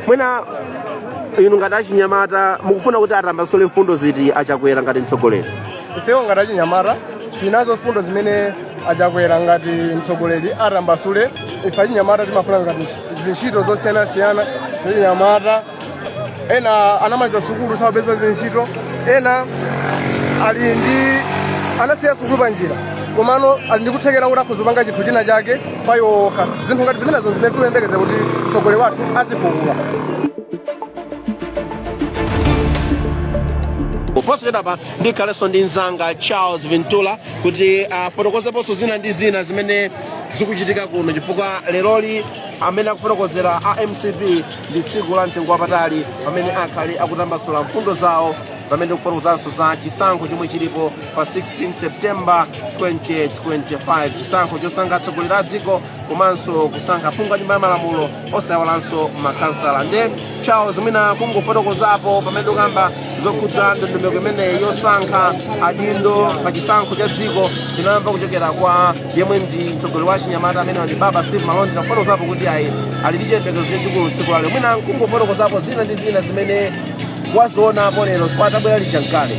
mwina inu ngati achinyamata mukufuna kuti atambasule mfundo ziti achakwera ngati mtsogoleri ifewo ngati achinyamata tinazo mfundo zimene achakwera ngati mtsogoleri atambasule ife achinyamata timafuna ngati ntch- zintchito zosiyanasiyana zachinyamata ena anamaliza sukulu sapeza zintchito ena ali ndi anasiya sukulu panjira komano ali ndi kuthekera kuti akhoza kupanga chinthu china chake pa iwo okha zinthu ngati zimenezo zimene tikuyembekeza kuti mtsogoleri wathu azifukula posachedwapa ndikhalenso ndi mzanga charles vintula kuti afotokozeponso zina ndi zina zimene zikuchitika kuno chifukwa leroli amene akufotokozera a mcp ndi tsiku la mtengo wapatali pamene akhale akutambasula mfundo zawo pamene tikufotokozanso za chisankho chomwe chilipo pa 16 septemba 2025 chisankho chosankha atsogoleri a dziko komanso kusankha phungu wa nyumba ya malamulo osayiwalanso makansala nde charles mwina kungofotokozapo pamene ukamba zokhudza ndondomeko imeneyi yosankha adindo pa chisankho cha dziko tinamva kuchokera kwa yemwe ndi mtsogoleri wa chinyamata amene ndi baba steve malondera atafotokozapo kuti ayi ali ndi chiyembekezo chachikulu tsiku lalero mwina kungofotokozapo zina ndi zina zimene wazionapo lero poti wabwera lija nkale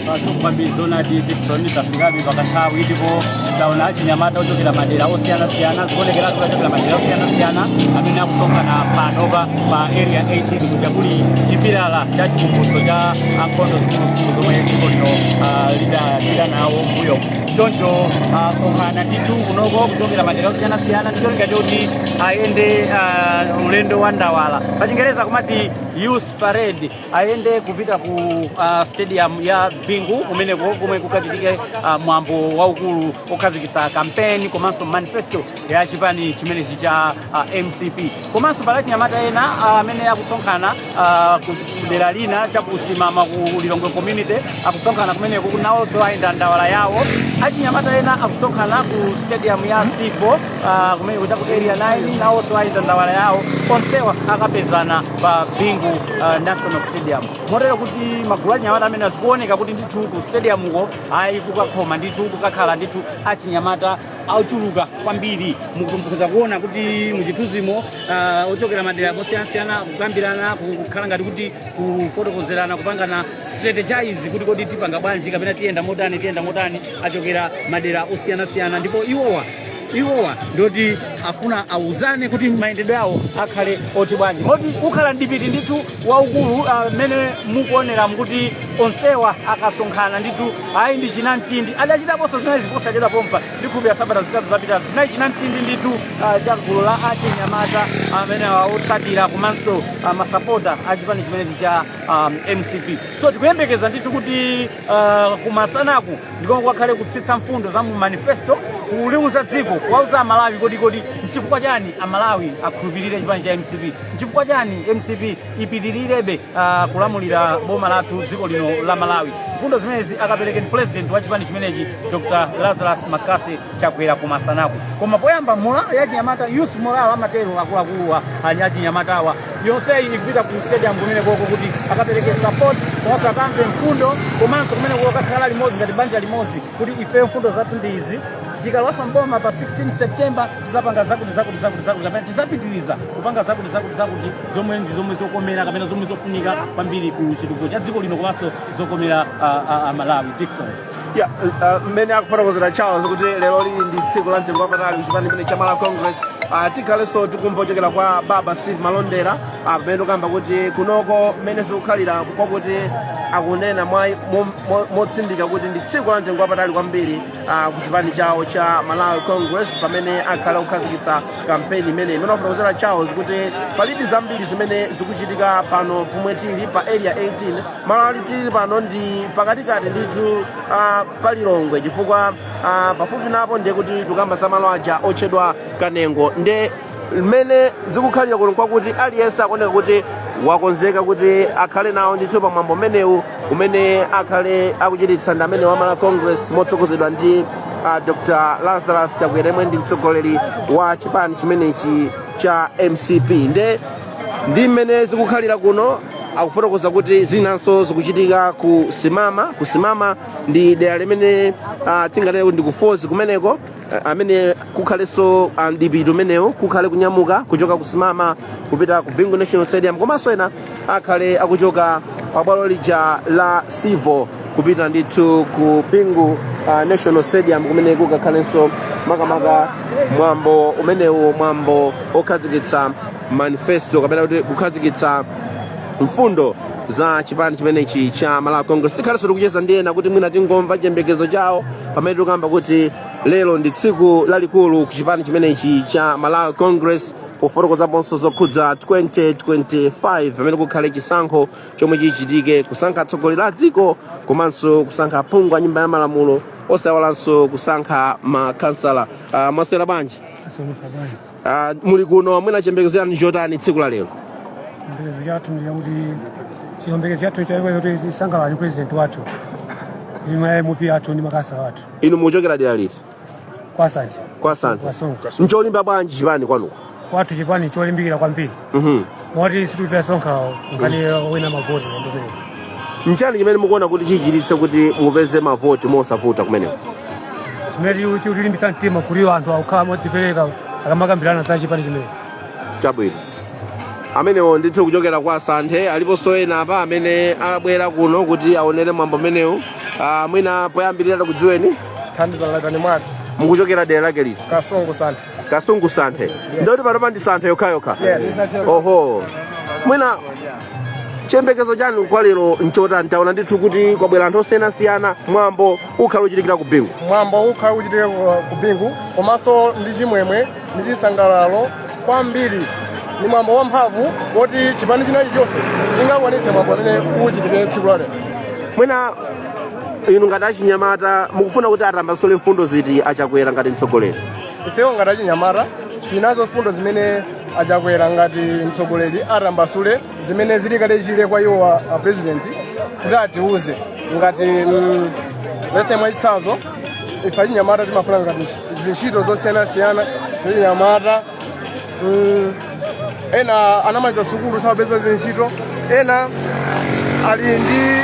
Pazungu kwambiri zonadi Dickson tafikadi pakanthawi ndipo taona achinyamata ochokera madera osiyanasiyana zikuonekera kuti achokera madera osiyanasiyana amene akusonkhana panopa ku area 18 kuja kuli chipilala cha chikumbutso cha nkhondo zikuluzikulu zomwe dziko lino ah, lidachita nawo mbuyomu choncho asonkhana ndithu kunoko kuchokera madera osiyanasiyana ndi cholinga choti ayende ah, ulendo wa ndawala pachingereza kumati youth parade ayende kupita ku uh, stadium ya bingu kumeneko komwe kukachitike uh, mwambo waukulu okhazikitsa kampeni komanso manifesto ya chipani chimenechi cha uh, mcp komanso pali achinyamata ena ah, amene akusonkhana ah, ku ku dera lina chakusimama ku lilongwe community akusonkhana kumeneko nawonso ayenda ndawala yawo achinyamata ena akusonkhana ku stadium ya civo ah, kumeneko chaku area 9 nawonso ayenda ndawala yawo onsewa akapezana pa bingu uh, national stadium motero kuti magulu anyamata amenewa zikuoneka kuti ndithu ku stadiumuko ayi kukakhoma ndithu kukakhala ndithu achinyamata ochuluka kwambiri mukupeza kuona kuti muchithunzimo uh, ochokera madera osiyanasiyana kukambirana ku- kukhala ngati kuti kufotokozerana kupangana strategize kuti kodi tipanga bwanji kapena tiyenda motani tiyenda motani achokera madera osiyanasiyana ndipo iwowa iwowa ndiwoti afuna auzane kuti mayendedwe awo akhale oti bwanji moti kukhala mdipiti ndithu waukulu ah, mmene mukuonera mkuti onsewa akasonkhana ndithu ayi ndi chinamtindi adachitaponso zinayi za posachedwa pompa ndikhulupira sabata zitatu zapitazo zinali chinamtindi ndithu ah, cha gulu la achinyamata amene awotsatira komanso ah, masapota a chipani chimenechi cha ah, mcp so tikuyembekeza ndithu kuti uh, kumasanaku ndiko kwakhale kutsitsa mfundo za mu manifesto kuliuza dziko kuwauza amalawi kodi kodi nchifukwa chani amalawi akhulupirire chipani cha mcp nchifukwa chani mcp ipitirirebe uh, kulamulira boma lathu dziko lino la malawi mfundo zimenezi akapereke president wa chipani chimenechi dr lazarus mccarthy Chakwera kumasanaku koma poyamba morale ya achinyamata youth morale amatero akuluakuluwa anya achinyamatawa yonseyi ikupita ku stadium kumene koko kuti akapereke support komanso akamve mfundo komanso kumene koko kakhala limodzi ngati banja limodzi kuti ifeyo mfundo zathu ndi izi tikalowanso mboma pa 16 september tizapanga zakuti zakuti zakuti zakuti kapena tizapitiriza kupanga zakuti zakuti zakuti zomwe ndi zomwe zokomera kapena zomwe zofunika kwambiri ku chitukuko cha dziko lino komanso zokomera ah, ah, amalawi dickson ya ah, mmene akufotokozera charles kuti lero lili ndi tsiku la mtengo wapatali kuchipani chimene cha malawi congress Ah, tikhalenso tikumva kuchokera kwa baba steve malondera ah, pamene tikukamba kuti kunoko mmene zikukhalira kwakuti akunena mwa- mo- mo- motsindika kuti ndi tsiku la mtengo wapatali kwambiri ah, kuchipani chawo cha malawi congress pamene akhale akukhazikitsa kampeni imeneyi mmene wafotokozera charles kuti palibe zambiri zimene zikuchitika pano pomwe tili pa area 18 malo amene tili pano ndi pakatikati ndithu ah, pa lilongwe chifukwa ah, pafupi napo ndiye kuti tikukamba za malo aja otchedwa kanengo nde mmene zikukhalira kuno kwakuti aliyense akuoneka kuti wakonzeka kuti akhale nawo ndithu pa mwambo umenewu umene akhale akuchititsa ndi amenewa a malawi congress motsogozedwa ndi ah, dr lazarus chakwera yemwe ndi mtsogoleri wa chipani chimenechi cha mcp nde ndi mmene zikukhalira kuno akufotokoza kuti zinanso zikuchitika ku simama ku simama ndi dera limene uh, tinganene kuti ndi kwa phozi kumeneko ah, amene kukhalenso uh, mdipiti umenewu kukhale kunyamuka kuchoka ku simama kupita ku bingu national stadium komanso ena akhale akuchoka pa bwalo lija la sivo kupita ndithu ku bingu uh, national stadium kumene kukakhalenso makamaka mwambo umenewu mwambo okhazikitsa manifesto kapena kuti kukhazikitsa mfundo za chipani chimenechi cha malawi congress tikhalenso tikucheza ndi ena kuti mwina tingomvako chiyembekezo chawo pamene tikukamba kuti lero ndi tsiku lalikulu ku chipani chimenechi cha malawi congress pofotokozaponso zokhudza 2025 pamene kukhale chisankho chomwe chichitike kusankha atsogoleri a dziko komanso kusankha aphungu a nyumba ya malamulo osaiwalanso kusankha makhansala uh, mwaswera bwanji asomesa bwanji uh, muli kuno mwina chiyembekezo chanu nchotani tsiku la lero chiyembekezo chathu ndichakuti chiyembekezo chathu chakuti tisangalale president wathu imwe mp athu ndi makhansala athu inu mukuchokera dera liti kwa santhe kwa santhe Wasonga. ncholimba bwanji chipani kwanuko kwathu chipani cholimbikira kwambiri Mhm. moti situpita sonkhawo nkhani wina mavoti ndimene nchiyani chimene mukuona kuti chichititse kuti mupeze mavoti mosavuta kumeneko chimene chikutilimbitsa mtima kuti anthu akukhala modzipereka akamakambirana za chipani chimene chabwino amenewo ndithu kuchokera kwa santhe aliponso ena apa amene abwera kuno kuti aonere mwambo umenewu Ah, mwina poyambirira tikudziweni thandiza latani mwake mukuchokera dera lake liti kasungu santhe kasungu santhe ndikuti panopa ndi santhe yokhayokha Yes. oho mwina chiyembekezo chanu kwa lero nchotani taona ndithu kuti kwabwera anthu osiyanasiyana mwambo ukhala uchitikira ku bingu mwambo ukhala uchitikira ku bingu komanso ndi chimwemwe ndi chisangalalo kwambiri ndi mwambo wamphamvu woti chipani china chilichonse sichingakwanitse mwambo amene uchitike tsiku la lero mwina inu ngati achinyamata mukufuna kuti atambasule mfundo ziti achakwera ngati mtsogoleri ifewo ngati achinyamata tili nazo mfundo zimene achakwera ngati mtsogoleri atambasule zimene zili kale chile kwa iwo a a president kuti atiuze ngati mm, lethe mwachitsanzo ife achinyamata timafuna ngati ntch- zintchito zosiyanasiyana zachinyamata mm, ena anamaliza sukulu sapeza zintchito ena ali ndi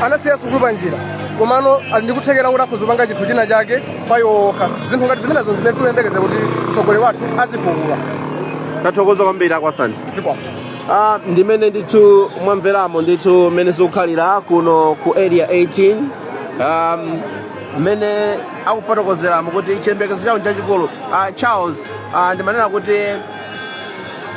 anasiya sukulu pa njira komano ali ndi kuthekera kuti akhoza kupanga chinthu china chake pa iwo okha zinthu ngati zimenezo zimene tikuyembekeza kuti mtsogoleri wathu azifukule tathokoza kwambiri a kwa santhe zikwapo Ah, ndimene ndithu mwamveramo ndithu mmene zikukhalira kuno ku area 18 um, mmene akufotokozeramo kuti chiyembekezo chawo nchachikulu ah, charles ah, ndimanena kuti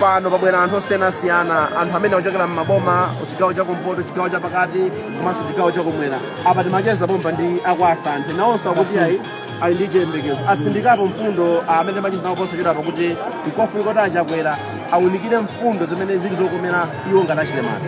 pano pabwera anthu osiyanasiyana anthu amene akuchokera m'maboma chigawo chakumpoto chigawo chapakati komanso chigawo chakumwera apa timacheza pompa ndi a kwa santhe nawonso akuti ayi ali ndi chiyembekezo atsindikapo mfundo amene timacheza nawo posachedwapa kuti nkofunika kuti achakwera aunikire mfundo zimene zili zokomera iwo ngati achinyamata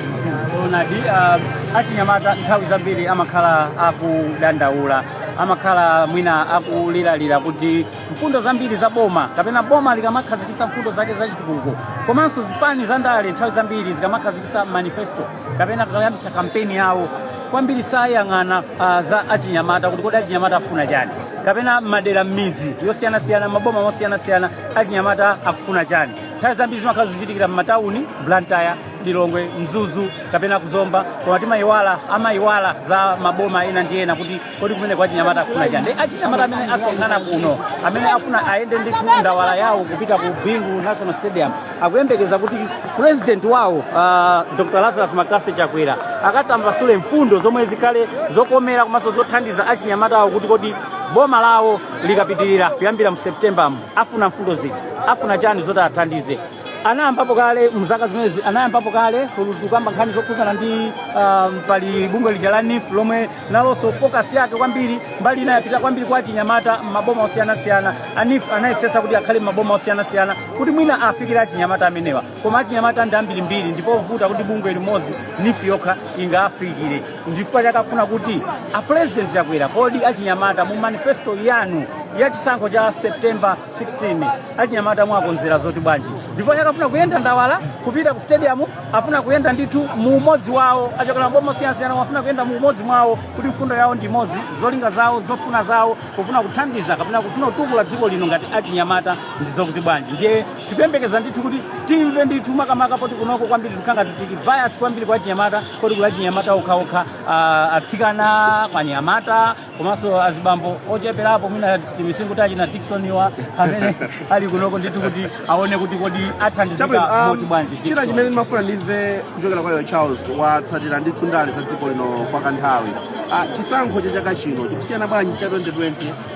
zoonadi uh, achinyamata nthawi zambiri amakhala akudandaula amakhala mwina akuliralira kuti mfundo zambiri za boma kapena boma likamakhazikisa mfundo zake za chitukuko komanso zipani za ndale nthawi zambiri zikamakhazikisa manifesto kapena kuyambisa kampeni yawo kwambiri sayang'ana ah, za achinyamata kuti kodi achinyamata afuna chani kapena m'madera m'midzi yosiyanasiyana m'maboma mosiyanasiyana achinyamata akufuna chani nthawi zambiri zimakhala zochitikira m'matawuni blantyre lilongwe mzuzu kapena ku zomba koma timayiwala amayiwala za maboma ena ndi ena kuti kodi kumeneko achinyamata akufuna chani ndi achinyamata amene asonkhana kuno amene afuna ayende ndithu ndawala yawo kupita ku bingu national stadium akuyembekeza kuti president wawo uh, dr lazarus mccarthy chakwera akatambasule mfundo zomwe zikhale zokomera komanso zothandiza achinyamata awo kuti kodi boma lawo likapitirira kuyambira mu september mu afuna mfundo ziti afuna chani zoti athandize anayambapo kale mzaka zimenezi anayambapo kale kukamba nkhani zokhudzana ndi um, pali bungwe lija la NEEF lomwe nalonso focus yake kwambiri mbali ina yapita kwambiri kwa achinyamata m'maboma osiyanasiyana a NEEF anayesesa kuti akhale m'maboma osiyanasiyana kuti mwina afikire achinyamata amenewa koma achinyamata ndi ambirimbiri ndi povuta kuti bungwe limodzi NEEF yokha ingawafikire ndifukwa chake akufuna kuti a president chakwera kodi achinyamata mu manifesto yanu ya chisankho cha september 16 achinyamata mwawakonzera zoti bwanji ndiye pake afuna kuyenda ndawala kupita ku stadium afuna kuyenda ndithu mu umodzi wawo achokera m'maboma osiyanasiyana afuna kuyenda mu umodzi mwawo kuti mfundo yawo ndi imodzi zolinga zawo zofuna zawo kufuna kuthandiza kapena kufuna kutukula dziko lino ngati achinyamata ndi zokuti bwanji ndiye tikuyembekeza ndithu kuti timve ndithu makamaka poti kunoko kwambiri tikhala ngati tili bias kwambiri kwa achinyamata poti kuli achinyamata okhaokha ah, atsikana kaya anyamata komanso azibambo ocheperapo mwina timisinkhu ta china diksoniwa amene ali kunoko ndithu kuti aone kuti kodi athandizika um, moti bwanji china chimene ndimafuna ndimve kuchokera kwa iwe charles watsatira ndithu ndale za dziko lino kwa kanthawi Ah, chisankho cha chaka chino chikusiyana bwanji cha 2020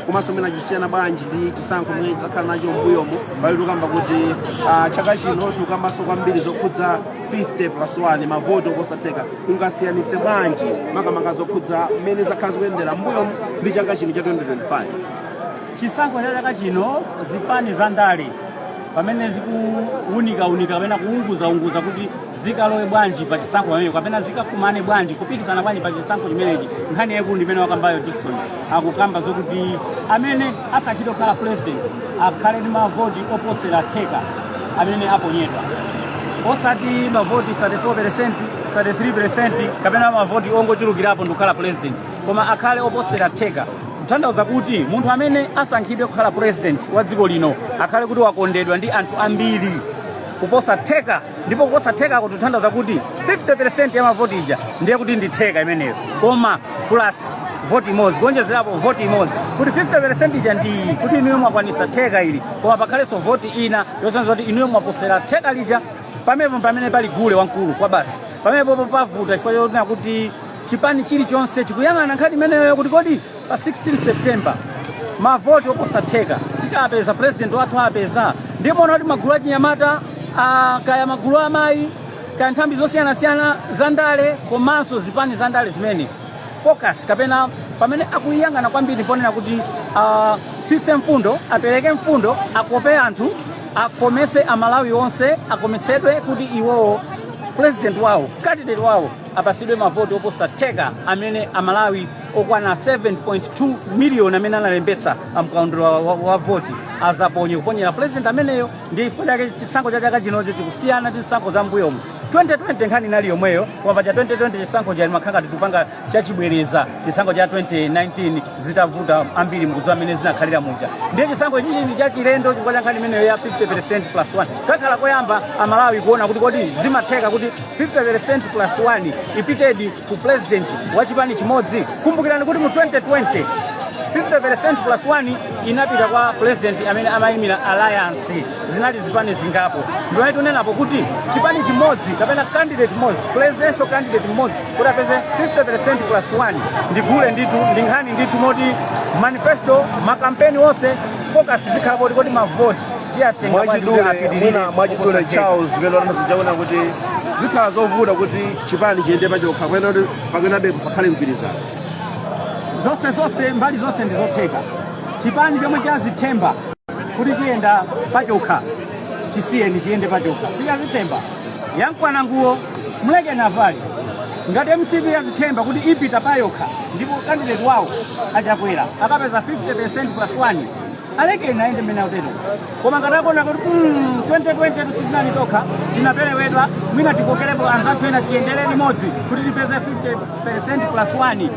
komanso mwina chikusiyana bwanji ndi chisankho chimene takhala nacho mbuyomu pamene tikukamba kuti ah, chaka chino tikukambanso kwambiri zokhudza 50 plus 1 mavoti oposa theka ungasiyanitse bwanji makamaka zokhudza mmene zakhala zikuyendera mbuyomu ndi chaka chino cha 2025 chisankho cha chaka chino zipani za ndale pamene zikuwunikawunika kapena kuwunguzaunguza kuti zikalowe bwanji pa chisankho pamenepo kapena zikakumane bwanji kupikisana bwanji pa chisankho chimenechi nkhani yaikulu ndimene wakambayo dikson akukamba zokuti amene asankhidwe kukhala pulezidenti akhale ndi mavoti oposera theka amene aponyedwa osati mavoti 34 peresenti 33 peresenti kapena mavoti ongochulukirapo ndikukhala pulezidenti koma akhale oposera theka kutanthauza kuti munthu amene asankhidwe kukhala pulezidenti wa dziko lino akhale kuti wakondedwa ndi anthu ambiri kuposa theka ndipo kuposa theka kutanthauza kuti 50% ya mavoti ija ndiye kuti ndi theka imeneyo koma plus voti imodzi kuonjezerapo voti imodzi kuti 50% ija ndiye kuti inuyo mwakwanisa theka ili koma pakhalenso voti ina yosonyeza kuti inuyo mwaposera theka lija pamenepo pamene pali gule wamkulu kwa basi pamenepopo pavuta chifukwa chonena kuti chipani chilichonse chikuyang'ana nkhani imeneyo kuti kodi pa 16 september mavoti oposa theka tikapeza president wathu apeza ndiye muona kuti magulu achinyamata ah, kaya magulu amayi kaya nthambi zosiyanasiyana za ndale komanso zipani za ndale zimene focus kapena pamene akuyang'ana kwambiri ponena kuti atsitse mfundo apereke mfundo akope anthu akomese amalawi onse akomesedwe kuti iwowo president wawo candidate wawo apasidwe mavoti oposa theka amene amalawi okwana 7.2 miliyoni amene analembetsa mkaundula wa, wa, wa voti azaponye kuponyera president ameneyo ndi chifukwa chake chisankho cha chaka chinocho chikusiyana ndi zisankho za mbuyomu 2020 nkhani inali yomweyo koma pa cha 2020 chisankho chimakhala ngati tikupanga chachibwereza chisankho cha 2019 zitavuta ambiri mukudziwa mmene zinakhalira muja ndiye chisankho ichi ndi chachilendo chifukwa cha nkhani imeneyo ya 50 plus 1 kakhala koyamba amalawi kuona kuti kodi zimatheka kuti 50 plus 1 ipitedi ku president wa chipani chimodzi kumbukirani kuti mu 2020 50% plus 1 inapita kwa president amene amayimira alliance zinali zipani zingapo ndiye tikunenapo kuti chipani chimodzi kapena candidate mmodzi presidential candidate mmodzi kuti apeze 50% plus 1 ndi gule ndithu ndi nkhani ndithu moti manifesto makampeni onse focus zikhala poti kodi mavoti tiyatenga mwachidule mwina mwachidule charles velo ena akuwona kuti zikhala zovuta kuti chipani chiyende pachokha kapena kuti pakanabe pakhale mgwirizano zonse zonse mbali zonse ndi zotheka chipani chomwe chazithemba kuti chiyenda pachokha chisiyeni chiyende pachokha suja wazithemba yamukwana nguwo mlekeni avale ngati mcp yazithemba kuti ipita payokha ndipo candidate wawo achakwera akapeza 50 plus 1 alekeni ayende mmene akutero koma ngati akuona kuti mm, 2020 sitinali tokha tinaperewedwa mwina tikokerepo anzathu ena tiyendere limodzi kuti tipeze 50 plus 1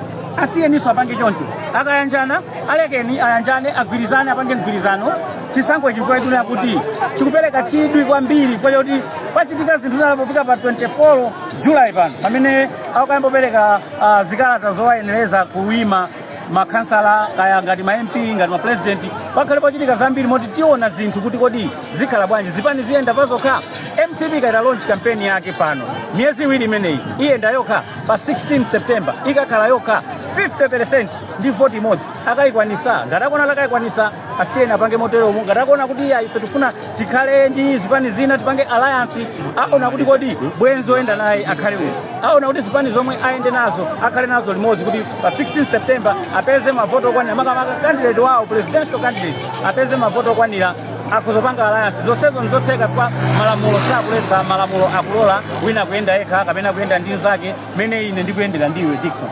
asiyeniso apange choncho akayanjana alekeni ayanjane agwirizane apange mgwirizano chisankho chifukwa chotinena kuti chikupereka chidwi kwambiri nchoti pachitika zinthu zina pofika pa 24 julayi pano pamene akayambe kupereka ah, zikalata zowayenereza kuima makhansala kaya ngati ma mp ngati ma president pakhala pochitika zambiri moti tiona zinthu kuti kodi zikhala bwanji zipani ziyenda pazokha mcp yayita launch campaign yake pano miyezi iwiri imeneyi iyenda yokha pa 16 september ikakhala yokha 50% ndi voti imodzi akayikwanisa ngati akuona akayikwanisa asiyeni apange moteromo ngati akuona kuti iya ife tifuna tikhale ndi zipani zina tipange alliance aona kuti kodi bwenzi oyenda naye akhale uti aona kuti zipani zomwe ayende nazo akhale nazo limodzi kuti pa 16 september apeze mavoto okwanira makamaka candidate wawo presidential candidate apeze mavoto okwanira akuzopanga alliance zonsezo ndi zotheka kwa malamulo sakuletsa malamulo akulola wina kuyenda yekha kapena kuyenda ndi nzake mmene ine ndikuyendera ndiwe dikson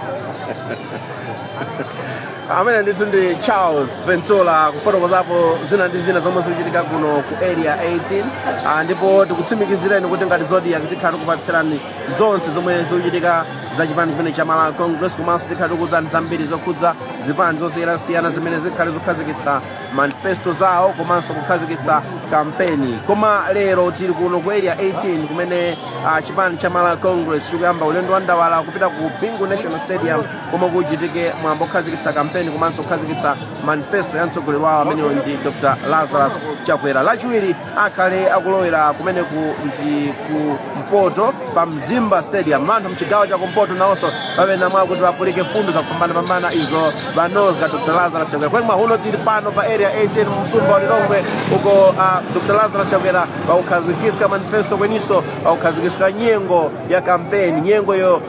amene ndithu ndi charles ventura kufotokozapo zina ndi zina zomwe zikuchitika kuno ku area 18 ah, ndipo tikutsimikizireni kuti ngati zodiak tikhala tikupatsirani zonse zomwe zikuchitika za chipani chimene cha malawi congress komanso tikhala tikuuzani zambiri zokhudza zipani zosiyanasiyana zimene zikhale zikukhazikitsa manifesto zawo komanso kukhazikitsa kampeni koma lero tili kuno ku area 18 kumene ah, chipani cha malawi congress chikuyamba ulendo wa ndawala kupita ku bingu national stadium komwe kuchitike mwambo okhazikitsa kampeni komanso kukhazikitsa manifesto ya mtsogoleri wawo ameneyo ndi dr lazarus chakwera lachiwiri akhale akulowera kumeneku ndi ku mpoto pa mzimba stadium wanthu mchigawo cha kumpoto nawonso papamene mwakuti wapulike fundo zakupambanapambana izo wanozga dr lazarus chakwera kweni mwahuno tili pano pa area 18 mu msumba wa lilongwe uko uh, dr lazarus chakwera wakukhazikitsa manifesto kweninso wakukhazikitsa nyengo ya kampeni nyengoyo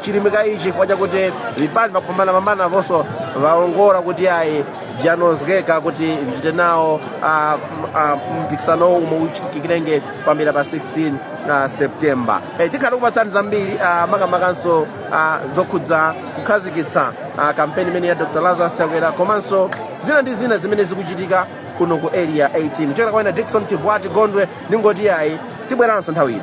chilimika ichi chifukwa chakuti vipani vakupambanapambana vonso vawongora kuti ayi vyanozgeka kuti vichite nawo ah, ah, mpikisanowu umwe uchitikirenge pambira pa 16 septemba Eh, tikhala kupatsani zambiri ah, makamakanso ah, zokhudza kukhazikitsa ah, kampeni imene ya dr lazarus chakwera komanso zina ndi zina zimene zikuchitika kuno ku area 18 kuchokera kwa ine dikson chivwati gondwe ndingoti ayi tibweranso nthawi ina